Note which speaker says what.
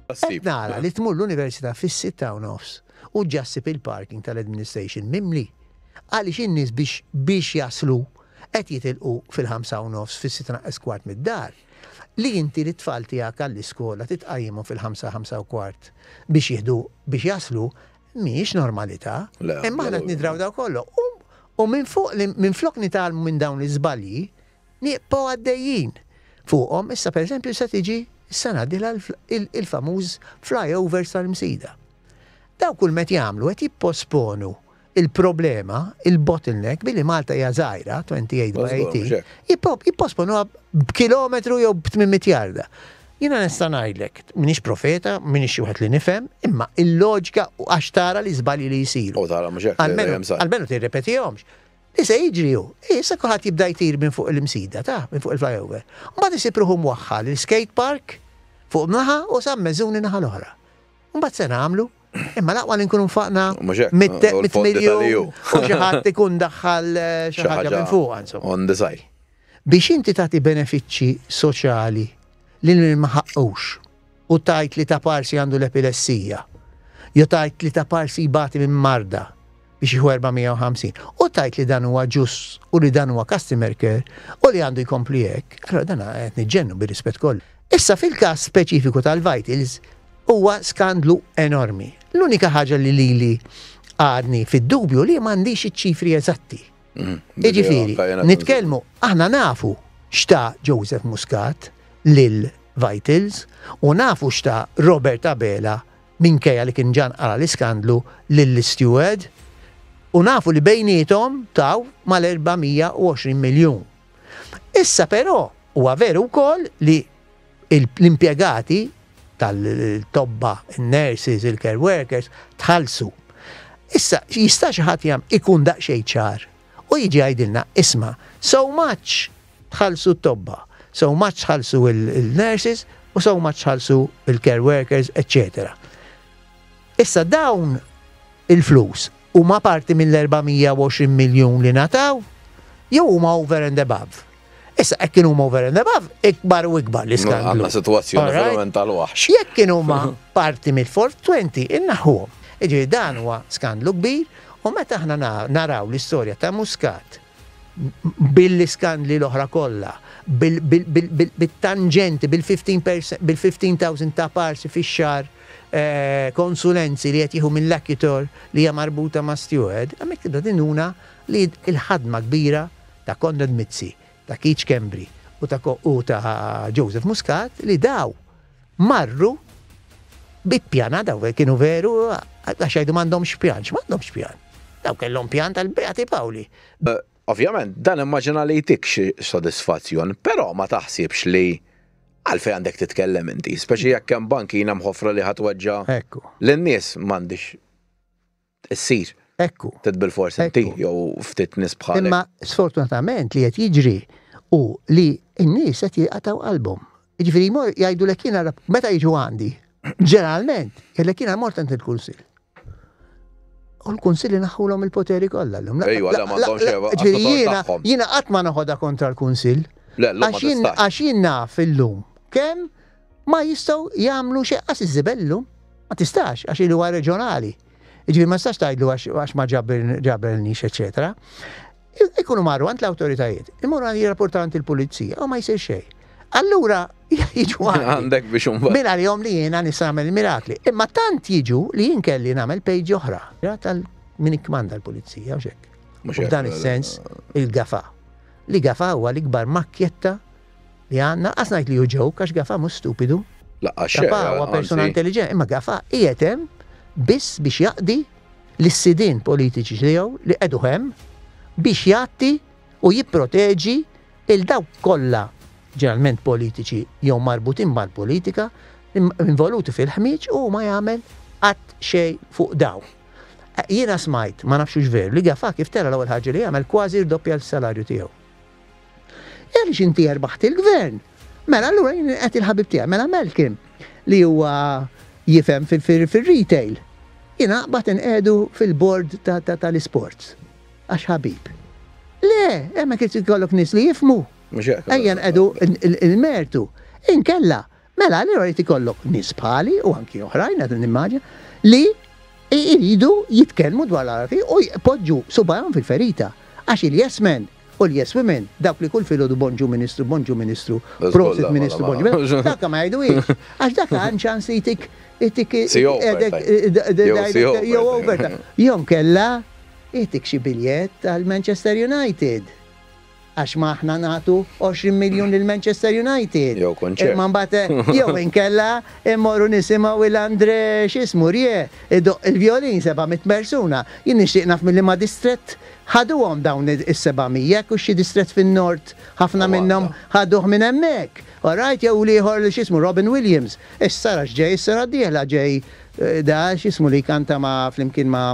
Speaker 1: Qed nara li tmur l-Università fis-sitta u nofs u ġġa ssib il-parking tal-Administration mimli. Għaliex in-nies biex biex jaslu qed jitilqu fil-ħamsa u nofs, fis-sitta naqqas kwart mid-dar. li inti lit-tfal tiegħek għall-iskola titqajjimhom fil-ħamsa, ħamsa u kwart biex jieħdu biex jaslu mhijiex normalità. Imma aħna qed nidraw daw kollu. U minn fuq li minflok nitgħallmu minn dawn l-iżbalji, nieqbgħu għaddejjin fuqhom issa pereżempju se tiġi s-sena dilha il-famuż flyovers tal-Msida. Daw kull met jagħmlu qed jipposponu il-problema, il-bottleneck, billi Malta hija żgħira, 28 by 18, jipposponuha b'kilometru jew b'800 jarda. Jina nista' ngħidlek, minix profeta, minix xi wieħed li nifhem, imma il-loġika u għax tara li żbalji li jsiru. U tara mhux hekk. Almenu tirrepetihomx. Li se jiġri hu, issa kulħadd jibda jtir minn fuq il-msida ta' minn fuq il-flyover. Mbagħad isib ruħu mwaħħal il-skate park fuq naħa u sam meżuni naħa l-oħra. Mbagħad se nagħmlu Imma l-aqwa li nkunu nfaqna mit-miljun u xi ħadd ikun daħħal eh, xi ħaġa minn fuq insomma. On the side.
Speaker 2: Biex inti
Speaker 1: tagħti benefiċċji soċjali li ma ħaqqux u tajt li ta' parsi għandu l-epilessija, jew tajt li ta' parsi jbati minn marda, biex jieħu 450 u tajt li dan huwa ġust u li dan huwa customer care u li għandu jkompli hekk, allora dan qed niġġennu bir-rispett kollu. Issa fil-każ speċifiku tal-Vitals huwa skandlu enormi. L-unika ħaġa li lili għadni fid-dubju li m'għandix iċ-ċifri eżatti. Mm, Jiġifieri, nitkellmu aħna nafu xta Joseph Muscat lil Vitals u nafu xta Robert Abela minkejja li kien ġan qara l-iskandlu lill-isteward u nafu li bejniethom taw mal-420 miljun. Issa però huwa veru wkoll li l-impjegati tal-tobba, il-nurses, il-care workers, tħallsu. Issa, jista' xi ħadd jam ikun daqsxejn ċar u jiġi għajdilna, isma, so much Tħallsu t-tobba, so much tħallsu l-nurses u so much tħallsu l-care workers, eċċetera. Issa dawn il-flus huma parti mill-420 miljun li nataw jew huma over and above. Issa hekk kienu huma over and above, ikbar u ikbar l iskandlu Għandna sitwazzjoni verament
Speaker 2: tal-waħx. Jekk kienu huma
Speaker 1: parti mill-420 innaħħuhom. Iġifieri dan huwa skandlu kbir u meta aħna naraw l-istorja ta' Muscat bil-iskandli l-oħra kollha, bit-tanġenti, bil-fifteen thousand ta' parsi fix-xahar konsulenzi li qed jieħu mill-Accutore li hija marbuta ma' Steward, hemmhekk tibda tinuna li l-ħadma kbira ta' Konrad Mizzi, ta' Keith Schembri u ta' Joseph Muscat li daw. Marru bi pjan, a dawk kienu veru, għax jgħidu m'għandhomx pjan, x'm'għandhomx pjan? Dawk kellhom pjan tal-Beati Pawli. Ovvjament,
Speaker 2: dan immaġina li jtik xi sodisfazzjon, però ma taħsibx li għalfejn għandek titkellem inti, speċi jekk hemm bankina mħoffra li ħa tweġġa' lin-nies, m'għandix. issir. Ekku. Tit
Speaker 1: bilfors inti
Speaker 2: jew ftit nies bħalek. Imma sfortunatament
Speaker 1: li qed jiġri hu li n-nies qed jaqtgħu qalbhom. Jiġifieri jmorru jgħidulek jiena meta jiġu għandi, ġeneralment, jgħidlek jiena mort għand il-kunsill. U l-kunsilli naħħulhom il-poteri kollha llum. Ejwa, le ma għandhomx
Speaker 2: xejn. Ġifieri jiena jiena qatt ma
Speaker 1: noħodha kontra l-kunsill. Le, le. Għax jien naf illum kemm Ma jistgħu jagħmlu xejn qas iż-żibellu. Ma tistax għax il huwa reġjonali. Ġifieri ma tistax tgħidlu għax ma ġabelniex eċetera. Ikunu marru għand l-awtoritajiet, imorru għandi rapportanti l-pulizija, u ma jsir xejn. Allura jiġu għandek biex un.
Speaker 2: Min għalihom li jiena nista'
Speaker 1: nagħmel mirakli. Imma tant jiġu li jien kelli nagħmel pejġi oħra. Tal min ikkmanda l-pulizija u xek. Dan is-sens il-gafa. Li gafa huwa l-ikbar makkjetta Li ha, naqqas ngħid li hu joke għax Gafà mhux stupidu. Laqqas xejn, Gafà huwa persuna anzi. intelliġenti, imma Gafà qiegħed hemm biss biex jaqdi lis-sidien politiċi tiegħu li qegħduh hemm biex jgħatti u jipproteġi 'l dawk kollha ġeneralment politiċi jew marbutin mal-politika involuti fil-ħmieġ u ma jagħmel qatt xejn fuq dawn. Jiena smajt, ma nafx hux veru, li Gafà kif tela' l-ewwel ħaġa li għamel kważi rdoppja l-salarju tiegħu. Għaliex inti erbaħt il-gvern? Mela allura jien qed il-ħabib tiegħi, mela Malcolm li huwa jifhem fir-retail. Jien aqbad inqegħdu fil-bord tal-isports għax ħabib. Le, hemmhekk irid ikollok nies li jifhmu. Ejja nqegħdu il-mertu. Inkella Mela allura jrid ikollok nies bħali u anki oħrajn, qed nimmaġina, li jridu jitkellmu dwar l-għarfi u jpoġġu subajhom fil-ferita. Għax il-yes men u l-yes women, dawk li kull filgħodu Bonġu Ministru, Bonġu Ministru, Prosit Ministru, Bonġu Ministru, dawk ma jgħiduhiex. Għax dak għan ċans li jtik qiegħdek jew overtime. Jew inkella jtik xi biljett għal Manchester United. Għax ma aħna nagħtu 20 miljun lil Manchester United. Jew kunċert. Imma mbagħad
Speaker 2: jew
Speaker 1: inkella mmorru nisimgħu 'il André x'ismu Rieu idoqq il-vjolin seba' mitt persuna. Jien nixtieq naf minn liema distrett ħaduhom dawn is-seba' mija, hekk hux xi distrett fin-Nord ħafna minnhom ħaduh minn hemmhekk. All right, jew l-ieħor x'ismu Robin Williams. Issa ara x'ġej is-sena d-dieħla ġej da x'ismu li jkanta ma' flimkien ma'